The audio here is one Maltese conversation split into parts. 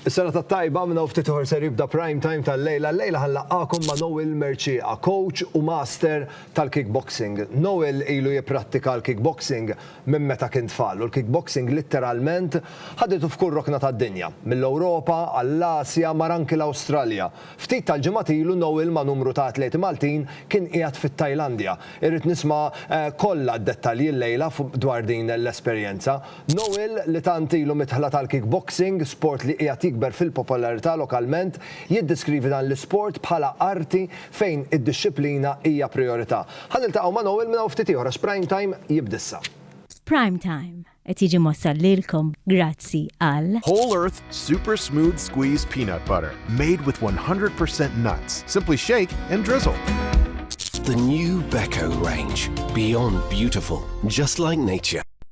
Is-serata t-tajba minn hawn ftit ieħor ser jibda prime time tal-lejla. Llejla ħa nlaqqagħkom ma' Noel Mercieqa, coach u master tal-kickboxing. Noel ilu jipprattika l-kickboxing minn meta kien tfal u l-kickboxing litteralment ħaditu f'kull rokna tad-dinja, mill-Ewropa għall-Asja mar anki l-Awstralja. Ftit tal-ġimgħat ilu Noel ma' numru ta' atleti Maltin kien qiegħed fit-Tajlandja. Irrid nisma' kollha d-dettalji llejla dwar din l-esperjenza. Noel, li tant ilu midħla tal-kickboxing, sport li qiegħed jikber fil-popolarità lokalment, jiddeskrivi dan l-isport bħala arti fejn id-dixxiplina hija prijorità. Ħa niltaqgħu ma' Noel minn hawn ftit ieħor għax Prime Time jibda issa. Prime Time qed jiġi mwassal lilkom grazzi għal. Whole Earth Super Smooth Squeeze Peanut Butter, made with 100 percent nuts. Simply shake and drizzle. The new Beko range, beyond beautiful, just like nature.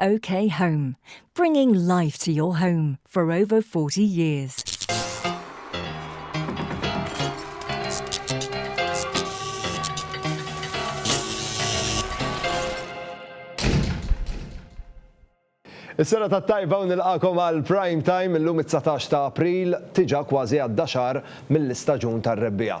OK Home, bringing life to your home for over 40 years. Is-sena ta' tajba u nilqakom għal prime time illum it-19 ta' April tiġa kważi għadda xahar mill-istaġun tar-rebbija.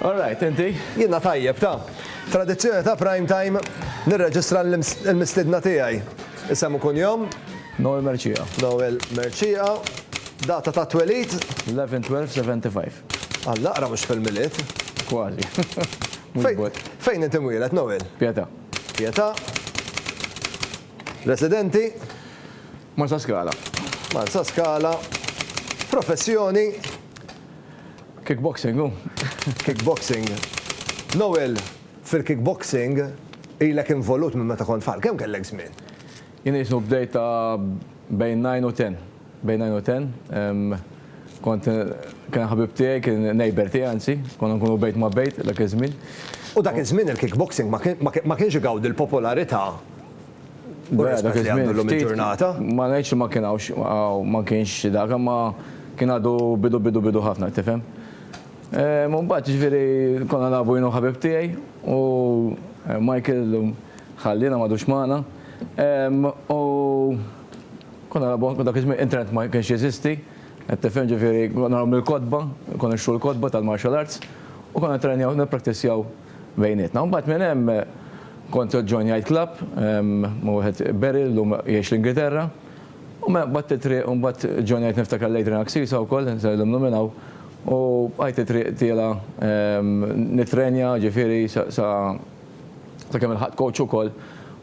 All right, inti? Jiena tajjeb, ta. Tradizzjoni ta' Prime Time, nirreġistra l-mistiedna tiegħi. Isem u kunjom? Noel Mercieqa. Noel Mercieqa. Data tat-twelid? 11/12/75. Alla aqra mhux fil-Milied. Kważi. Mhux bot. Fejn int imwieled, Noel? Pietà. Pietà. Residenti? Marsaskala. Marsaskala. Professjoni? Kickboxing hu. Kickboxing. Noel, fil-kickboxing ilek involut minn meta kont tfal. Kemm kellek żmien? Jien jisnu bdejt ta' bejn nine u ten. Bejn nine u ten. Kont kien ħabib tiegħi, kien neighbour tiegħi anzi, konna nkunu bejt ma' bejt dak iż-żmien. U dak iż-żmien il-kickboxing ma kienx igawdi l-popolarità. Vera dak iż-żmien ma ngħidx li ma kien hawnx ma kienx dak imma kien għadu bidu bidu bidu ħafna tifhem. Ehm, mbagħad ġifieri konna nagħbu jien u ħabib tiegħi u eh, Michael ħallina m'għadux magħna. Ehm, u konna nagħbu dak iż-żmien internet ma kienx jeżisti. Qed tifhem ġifieri konna nagħmlu l-kotba, konna nixtru l-kotba tal-martial arts u konna trenjaw nippraktizjaw bejnietna. U mbagħad minn hemm kont John jgħid club, ma' wieħed Beryl llum jgħix l-Ingilterra. U mela baqgħet it-triq u mbagħad John jgħid niftakar l-Adrian Axisa wkoll, se nillimnu minn hawn. U bqajt it-triq tiela' nittrenja, ġifieri sa sakemm ilħaqt coach ukoll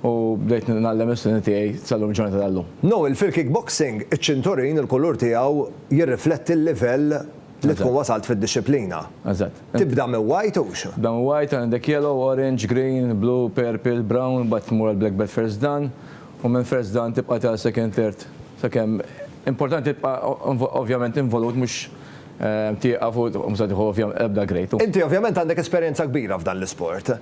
u bdejt ngħallem l-istudenti tiegħi sal-lum il-ġurnata tal-lum. Noel, fil-kickboxing, iċ-ċinturin, il-kulur tiegħu jirrifletti l-livell li tkun wasalt fid-dixxiplina. Eżatt. Tibda minn white u x? Tibda minn white, għandek yellow, orange, green, blue, purple, brown, imbagħad tmur għal black belt first dan, u minn first dan tibqa' ta' second third sakemm, importanti tibqa' ovvjament involut mhux tieqaf u ma se tieħu l-ebda grade. Inti ovvjament għandek esperjenza kbira f'dan l-isport.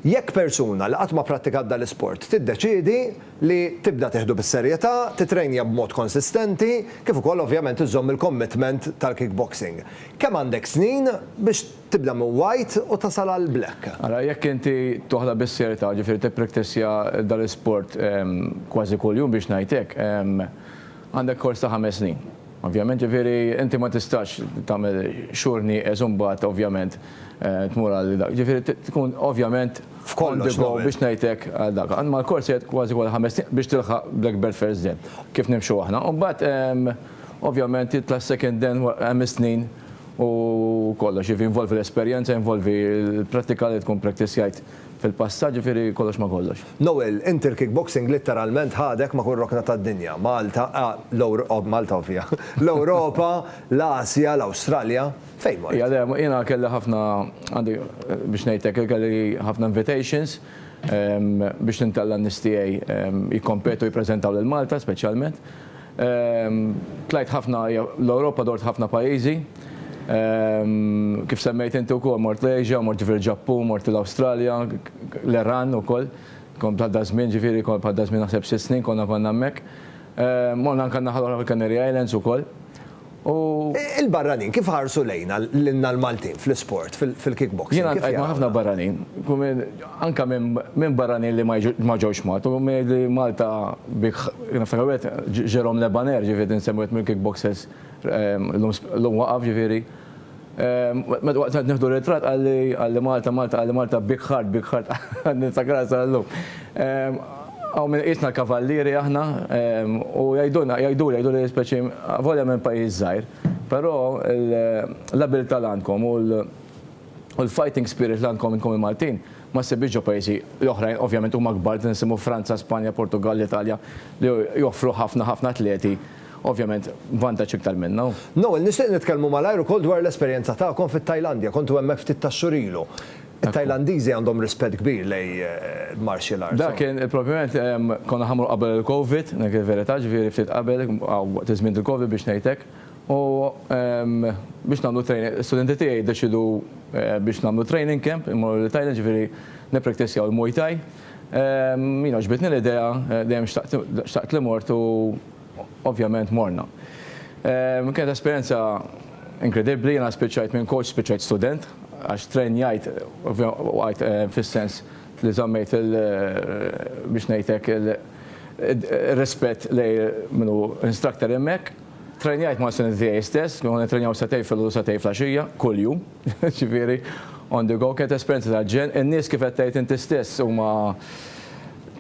Jekk persuna li qatt ma pprattikat dan l-isport tiddeċiedi li tibda tieħdu bis-serjetà, tittrejnja b'mod konsistenti, kif ukoll ovvjament iżżomm il-commitment tal-kickboxing. Kemm għandek snin biex tibda minn white u tasal għal black? Ara, jekk inti toħdha bis-serjetà, ġifieri tippriktissja dan l-isport kważi kuljum biex ngħid hekk, għandek kors ta' ħames snin. Ovvjament, ġifieri inti ma tistax tagħmel xhur nieqes u mbagħad ovvjament tmur għal dak. Ġifieri tkun ovvjament. On the go biex ngħidlek għal dak. Għand mal-kors qiegħed kważi kull ħames snin biex tilħaq Blackbird First Den, kif nimxu aħna. U mbagħad ovvjament titla' s-Second Den hemm is-snin u kollox, jiġifieri jinvolvi l-esperjenza, jinvolvi l-prattika li tkun ppraktizjajt fil-passat, jiġifieri kollox ma' kollox. Noel, inti l-kickboxing litteralment ħadek ma' kull rokna tad-dinja, Malta, Malta ovvja, l-Ewropa, l-Asja, l-Awstralja. Fejn mort? Hija dejjem, jiena kelli ħafna, għandi, biex ngħidlek, kelli ħafna invitations biex nintella' n-nies tiegħi jikkompetu jippreżentaw lil Malta speċjalment. Tlajt ħafna, l-Ewropa dort ħafna pajjiżi. Kif semmejt inti wkoll mort l-Asia, mort ġifieri l-Ġappun, mort l-Awstralja, l-Iran ukoll. Kont bħal daż-żmien, ġifieri kont bħal daż-żmien naħseb sitt snin konna konna hemmhekk. Morna anke n-naħa l-oħra fil-Canary Islands ukoll. u. Il-barranin kif ħarsu lejna, lilna l-Maltin fl-isport, fil-kickboxing? Jiena ltqajt ma' ħafna barranin, anke minn barranin li ma ġewx Malta, u min jgħidli Malta bik, niftakar wieħed Jérôme Le Banner, ġifieri nsemmi wieħed mill-kickboxers, illum waqaf ġifieri. Meta waqt qed nieħdu ritratt qalli, qalli Malta, Malta, qalli Malta, big heart, big heart, għad ninftakarha sal-lum. Hawn min iqisna l-kavallieri aħna u jgħidulna, jgħiduli, jgħiduli li speċi avolja minn pajjiż żgħir, però l-abilità li għandkom u l-fighting spirit li għandkom intkom il-Maltin ma ssibhiex ġo pajjiżi l-oħrajn, ovvjament huma kbar, nisimgħu Franza, Spanja, Portugall, l-Italja li joffru ħafna, ħafna atleti. Ovvjament, vantaġġ iktar minn hawn. Noel, nixtieq nitkellmu malajr ukoll dwar l-esperjenza tagħkom fit-Tajlandja. Kontu hemmhekk ftit tax-xhur ilu. It-Tajlandiżi għandhom rispett kbir lejn martial arts. Dak kien, propjament, konna ħa mmorru qabel il-Covid, dik il-verità, ġifieri ftit qabel, waqt iż-żmien tal-Covid biex ngħid hekk. U biex nagħmlu training, l-istudenti tiegħi ddeċiedu biex nagħmlu training camp, immorru lit-Tajlandja, ġifieri nippraktissjaw il-Muay Thai. Jiena għaġbitni l-idea, dejjem xtaqt li mort u. Ovvjament morna. Kienet esperjenza inkredibbli, jiena spiċċajt minn coach spiċċajt student għax trrenjajt waqajt fis-sens li żammejt il biex ngħid hekk ir-rispett lejn min hu instructor hemmhekk. Trrenjajt ma' studenti tiegħi stess, konna nittrenjaw sagħtejn filgħodu u sagħtejn flaxija, kuljum, ġifieri on the go. Kienet esperjenza tal-ġenn. In-nies kif qed tgħid inti stess huma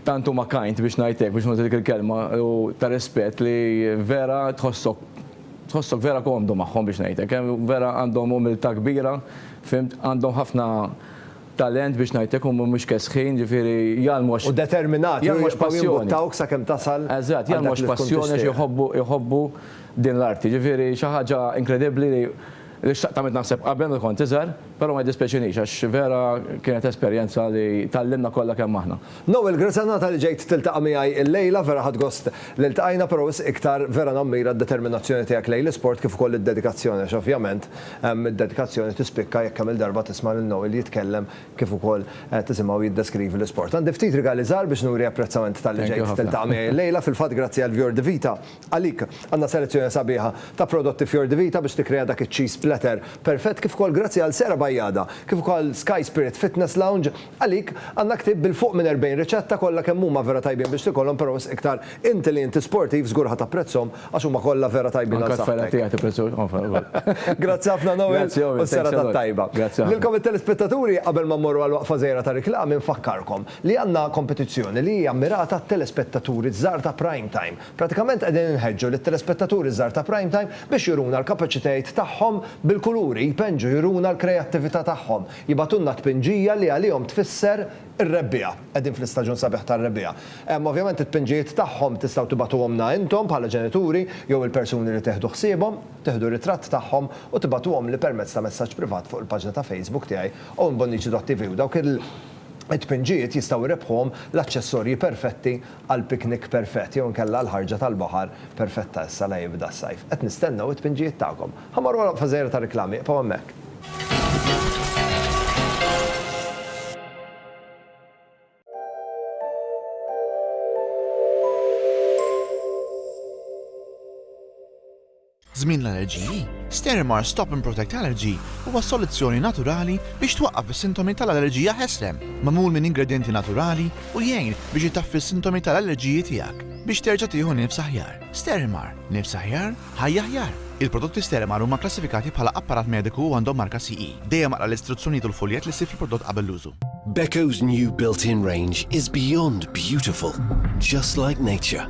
Tant huma kind biex ngħid hekk, biex nuża dik il-kelma, u ta' rispett li vera tħossok tħossok vera komdu magħhom biex ngħid hekk. Vera għandhom umiltà kbira, fhimt, għandhom ħafna talent biex ngħid hekk, huma mhux kesħin, ġifieri jgħallmu għax. U determinati, jgħallmu għax passjoni. Jibqgħu jimbuttawk sakemm tasal. Eżatt, jgħallmu għax passjoni, għax iħobbu din l-arti. Ġifieri xi ħaġa inkredibbli li Li xtaqt għamilt naħseb qabel meta kont iżgħar, però ma jiddispjaċinix għax vera kienet esperjenza li tgħallimna kollha kemm aħna. Noel, grazzi għan-nata li ġejt tiltaqa' miegħi illejla, vera ħadt gost li ltqajna, però wisq iktar vera nammira d-determinazzjoni tiegħek lejn l-isport kif ukoll id-dedikazzjoni għax ovvjament id-dedikazzjoni tispikka jekk kemm-il darba tisma' lil Noel jitkellem kif ukoll tisimgħu jiddeskrivi l-isport. Għandi ftit rigali żgħar biex nuri apprezzament talli ġejt tiltaqa' miegħi illejla, fil-fatt grazzi għal Vjor Di Vita, Għalik, għandna selezzjoni sabiħa ta' prodotti Fior di Vita biex tikkrea dak iċ-cheese platter perfett kif ukoll grazzi għal Sera Bajada kif ukoll Sky Spirit Fitness Lounge. Għalik, għandna ktieb bil-fuq minn 40 riċetta kollha kemm huma vera tajbin biex tikolhom però wisq iktar inti li inti sportiv żgur ħa tapprezzhom għax huma kollha vera tajbin għal saħħtek. Anka t-tfajla tiegħi tipprezzahom. Grazzi ħafna Noel u s-serata t-tajba. Lilkom it-telespettaturi qabel ma mmorru għal waqfa żgħira ta' riklami nfakkarkom li għandna kompetizzjoni li hija mmirata għat-telespettaturi ż-żgħar ta' Prime Time. Pratikament qegħdin inħeġġu lit-telespettaturi żgħar ta' Prime Time biex juruna l-kapaċitajiet tagħhom bil-kuluri, jpenġu juruna l-krejattività tagħhom, jibgħatulna tpinġija li għalihom tfisser ir-rebbiegħa. Qegħdin fl-istaġun sabiħ tar-rebbiegħa. Hemm ovvjament it-tpinġijiet tagħhom tistgħu tibagħtuhomlna intom bħala ġenituri jew il-persuni li tieħdu ħsiebhom. Tieħdu ritratt tagħhom u tibagħtuhomli permezz ta' messaġġ privat fuq il-paġna ta' Facebook tiegħi Owen Bonnici dott TV u dawk it-tpinġijiet jistgħu jrebbħuhom l-aċċessorji perfetti għall-piknik perfett jew inkella għall-ħarġa tal-baħar perfetta issa la jibda s-sajf. Qed nistennew it-tpinġijiet tagħkom. Ħa mmorru għal waqfa żgħira tar-riklami, ibqgħu hemmhekk. Żmien l-allerġiji, Sterimer Stop and Protect Allergy huwa soluzzjoni naturali biex twaqqaf is-sintomi tal-allerġija ħesrem, magħmul minn ingredjenti naturali u jgħin biex itaffi s-sintomi tal-allerġiji tiegħek biex terġa' tieħu nifs aħjar. Sterimer, nifs aħjar, ħajja aħjar! Il-prodotti Sterimer huma kklassifikati bħala apparat mediku u għandhom marka CE. Dejjem aqra l-istruzzjonijiet u l-fuljett li ssib fil-prodott qabel l-użu. Beko's new built-in range is beyond beautiful, just like nature.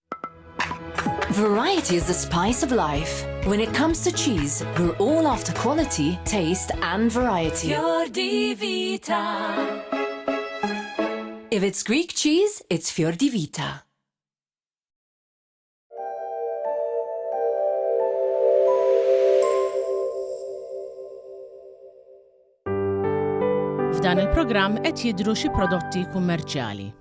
Variety is the spice of life. When it comes to cheese, we're all after quality, taste and variety. Your Divita. If it's Greek cheese, it's Fior di Vita. F'dan il-programm qed jidhru xi prodotti kummerċjali.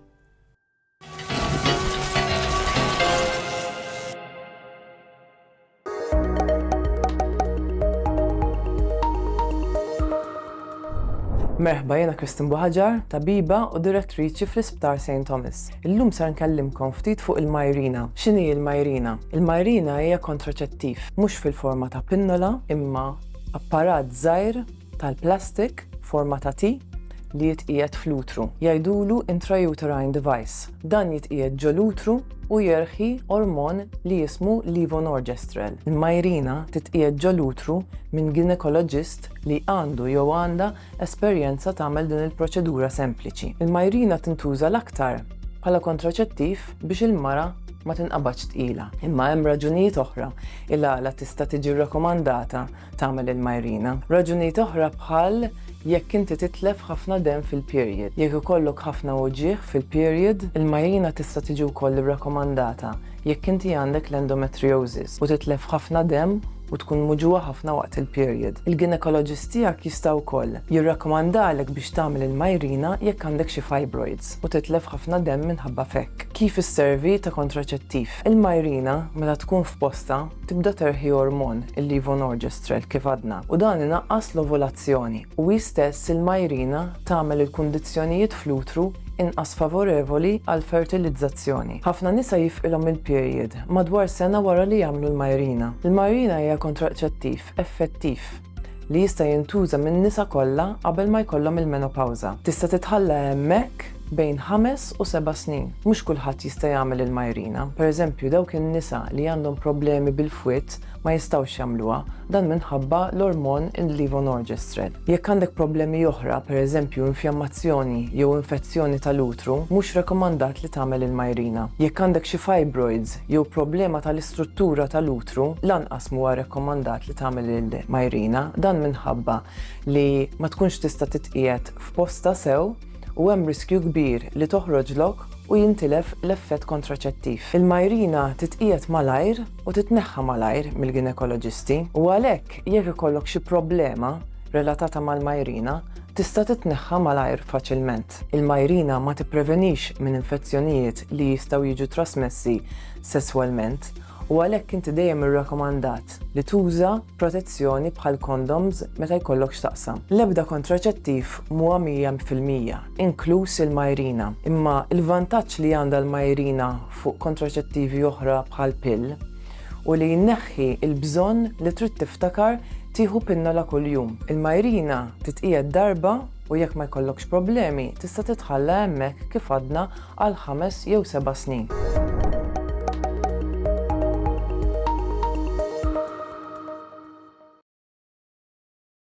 Merħba jena Kristin Buħaġar, tabiba u direttriċi fl-Isptar St. Thomas. Illum sar nkellimkom ftit fuq il-majrina. X'inhi il-majrina? Il-majrina hija kontraċettiv, mhux fil-forma ta' pinnola, imma apparat żgħir tal-plastik forma ta' T li jitqiegħed fl-utru. Jgħidulu intrauterine device. Dan jitqiegħed ġol-utru u jerħi ormon li jismu levonorgestrel. Il-Mirena titqiegħed ġol-utru minn ginekoloġist li għandu jew għandha esperjenza tagħmel din il-proċedura sempliċi. Il-Mirena tintuża l-aktar bħala kontraċettiv biex il-mara ma tinqabadx tqila. Imma hemm raġunijiet oħra il-għala tista' tiġi rrakomandata tagħmel il-majrina. Raġunijiet oħra bħal jekk inti titlef ħafna demm fil-period, jekk ikollok ħafna uġigħ fil-period, il-majrina tista' tiġi wkoll irrakomandata jekk inti għandek l-endometriosis u titlef ħafna demm u tkun muġugħa ħafna waqt il-period. Il-ginekoloġist tiegħek jista' wkoll jirrakkomandalek biex tagħmel il-majrina jekk għandek xi fibroids u titlef ħafna demm minħabba f'hekk. Kif isservi ta' kontraċettiv? Il-majrina, meta tkun f'postha, tibda terħi ormon, il-levonorgestrel, kif għadna, u dan inaqqas l-ovulazzjoni, u hi stess il-majrina tagħmel il-kundizzjonijiet fl-utru inqas favorevoli għall-fertilizzazzjoni. Ħafna nisa jifqilhom il-period madwar sena wara li jagħmlu l-majrina. Il-majrina hija kontraċettiv effettiv. li jista' jintuża min-nisa kollha qabel ma jkollhom il-menopawża. Tista' titħalla hemmhekk bejn ħames u seba' snin. Mhux kulħadd jista' jagħmel il-Mirena, pereżempju dawk in-nisa li għandhom problemi bil-fwied ma jistgħux jagħmluha, dan minħabba l-ormon il-levonorgestrel. Jekk għandek problemi oħra, pereżempju infjammazzjoni jew infezzjoni tal-utru, mhux rekomandat li tagħmel il-Mirena. Jekk għandek xi fibroids, jew problema tal-istruttura tal-utru, lanqas m'huwa rekkomandat li tagħmel il-majrina, dan minħabba li ma tkunx tista' titqiegħed f'postha sew u hemm riskju kbir li toħroġlok u jintilef l-effett kontraċettiv. Il-majrina titqiegħed malajr u titneħħa malajr mill-ginekoloġisti u għalhekk jekk ikollok xi problema relatata mal-majrina, tista' titneħħa malajr faċilment. Il-majrina ma tipprevenix minn infezzjonijiet li jistgħu jiġu trasmessi sesswalment u għalhekk inti dejjem irrakomandat li tuża protezzjoni bħal kondoms meta jkollok x'taqsam. L-ebda kontraċettiv mhuwa mija fil-mija, inkluż il-majrina, imma l-vantaġġ li għandha l-majrina fuq kontraċettivi oħra bħal pill u li jneħħi l-bżonn li trid tiftakar tieħu pinnola kuljum. Il-majrina titqiegħed darba u jekk ma jkollokx problemi tista' titħalla hemmhekk kif għadna għal ħames jew seba' snin.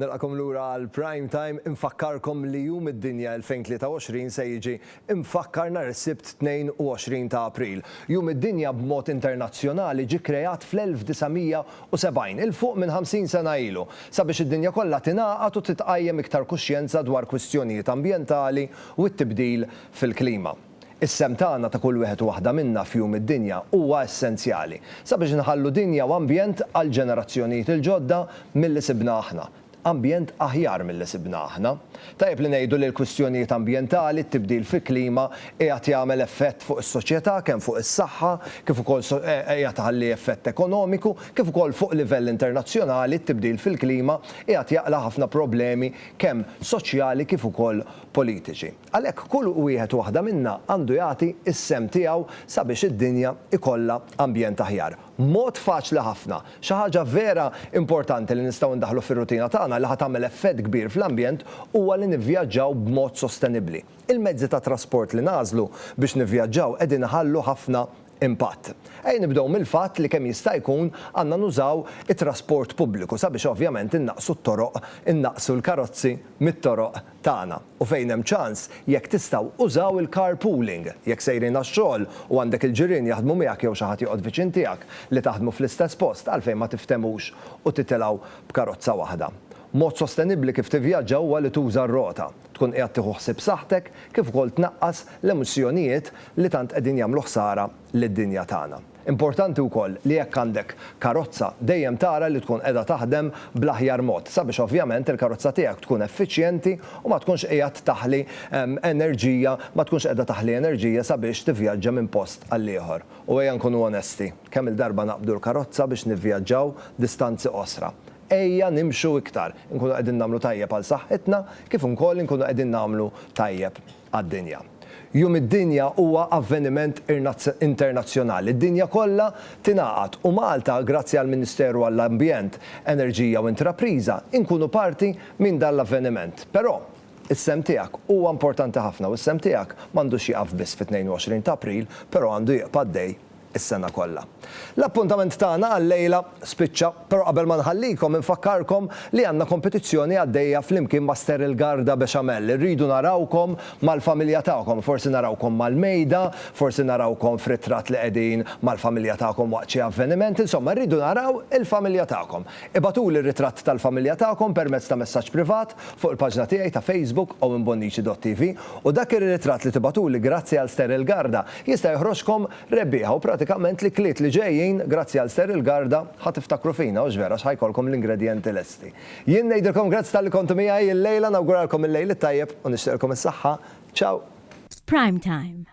Nilqakom lura għal Prime Time, infakkarkom li Jum id-Dinja 2023 se jiġi mfakkar nhar is-Sibt 22 ta' April. Jum id-Dinja b'mod internazzjonali ġie kreat fl-1970, 'il fuq minn 50 sena ilu, sabiex id-dinja kollha tingħaqad u titqajjem iktar kuxjenza dwar kwistjonijiet ambjentali u t-tibdil fil-klima. Is-sehem tagħna ta' kull wieħed u waħda minna f'jum id-dinja huwa essenzjali sabiex inħallu dinja u ambjent għall-ġenerazzjonijiet il-ġodda milli sibna aħna, ambjent aħjar milli sibna aħna. Tajjeb li ngħidu li l-kwistjonijiet ambjentali, t-tibdil fi klima, qiegħed jagħmel effett fuq is-soċjetà, kemm fuq is-saħħa, kif ukoll qiegħed iħalli effett ekonomiku, kif ukoll fuq livell internazzjonali, t-tibdil fil-klima qiegħed jaqla' ħafna problemi kemm soċjali kif ukoll politiċi. Għalhekk kull wieħed u waħda minna għandu jagħti s-sehem tiegħu sabiex id-dinja jkollha ambjent aħjar. Mod faċli ħafna, xi ħaġa vera importanti li nistgħu ndaħħlu fir-rutina tagħna li ħa tagħmel effett kbir fl-ambjent huwa li nivvjaġġaw b'mod sostenibbli. Il-mezzi ta' trasport li nagħżlu biex nivvjaġġaw qegħdin iħallu ħafna impatt. Ejja nibdew mill-fatt li kemm jista' jkun għandna nużaw it-trasport pubbliku sabiex ovvjament innaqqsu t-toroq, innaqqsu l-karozzi mit-toroq, tagħna. U fejn hemm ċans, jekk tistgħu, użaw il-carpooling. Jekk sejrin għax-xogħol u għandek il-ġirien jaħdmu miegħek jew xi ħadd joqgħod viċin tiegħek li taħdmu fl-istess post, għalfejn ma tiftemux u titilgħu b'karozza waħda? Mod sostenibbli kif tivvjaġġa huwa li tuża r-rota. Tkun qiegħed tieħu ħsieb saħħtek kif ukoll tnaqqas l-emissjonijiet li tant qegħdin jagħmlu ħsara lid-dinja tagħna. Importanti wkoll li jekk għandek karozza dejjem tara li tkun qiegħda taħdem bl-aħjar mod sabiex ovvjament il-karozza tiegħek tkun effiċjenti u ma tkunx qiegħed taħli enerġija ma tkunx qiegħda taħli enerġija sabiex tivvjaġġa minn post għall-ieħor. U ejja nkunu onesti, kemm-il darba naqbdu l-karozza biex nivvjaġġaw distanzi qosra? Ejja nimxu iktar, inkunu qegħdin nagħmlu tajjeb għal saħħitna kif ukoll inkunu qegħdin nagħmlu tajjeb. għad-dinja. Jum id-Dinja huwa avveniment internazzjonali li d-dinja kollha tingħaqad u Malta, grazzi għall-Ministeru għall-Ambjent, Enerġija u Intrapriża, inkunu parti minn dan l-avveniment. Però, is-sehem tiegħek huwa importanti ħafna u s-sehem tiegħek m'għandux jieqaf biss fit-22 ta' April, però għandu jibqa' għaddej is-sena kollha. L-appuntament tagħna għal-lejla spiċċa, però qabel ma nħallikom infakkarkom li għandna kompetizzjoni għaddejja flimkien ma' Sterile Garda Bechamel. Irridu narawkom mal-familja tagħkom. Forsi narawkom mal-mejda, forsi narawkom f'ritratt li qegħdin mal-familja tagħkom waqt xi avveniment, insomma rridu naraw il-familja tagħkom. Ibagħtuli r-ritratt tal-familja tagħkom permezz ta' messaġġ privat fuq il-paġna tiegħi ta' Facebook owenbonnici.tv u dak ir-ritratt li tibagħtuli grazzi għal Ster il-Garda jista' joħroġkom rebbieħa u pratikament l-ikliet li ġejjin grazzi għal Ster il-Garda ħa tiftakru fina hux vera għax ħa jkollkom l-ingredjenti lesti. Jien ngħidilkom grazzi talli kontu miegħi illejla nawguralkom il-lejl it-tajjeb u nixtieqilkom is-saħħa. Ciao! F'Prime Time.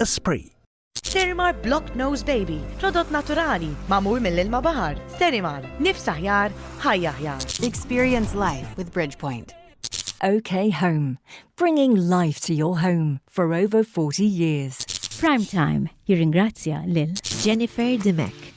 Esprit. Sterimar Block Nose Baby, prodott naturali, mamur mill-ilma bahar. Sterimar, nifs aħjar, ħajja aħjar. Experience life with Bridgepoint. OK Home, bringing life to your home for over 40 years. Prime Time jirringrazzja lil Jennifer Dimek.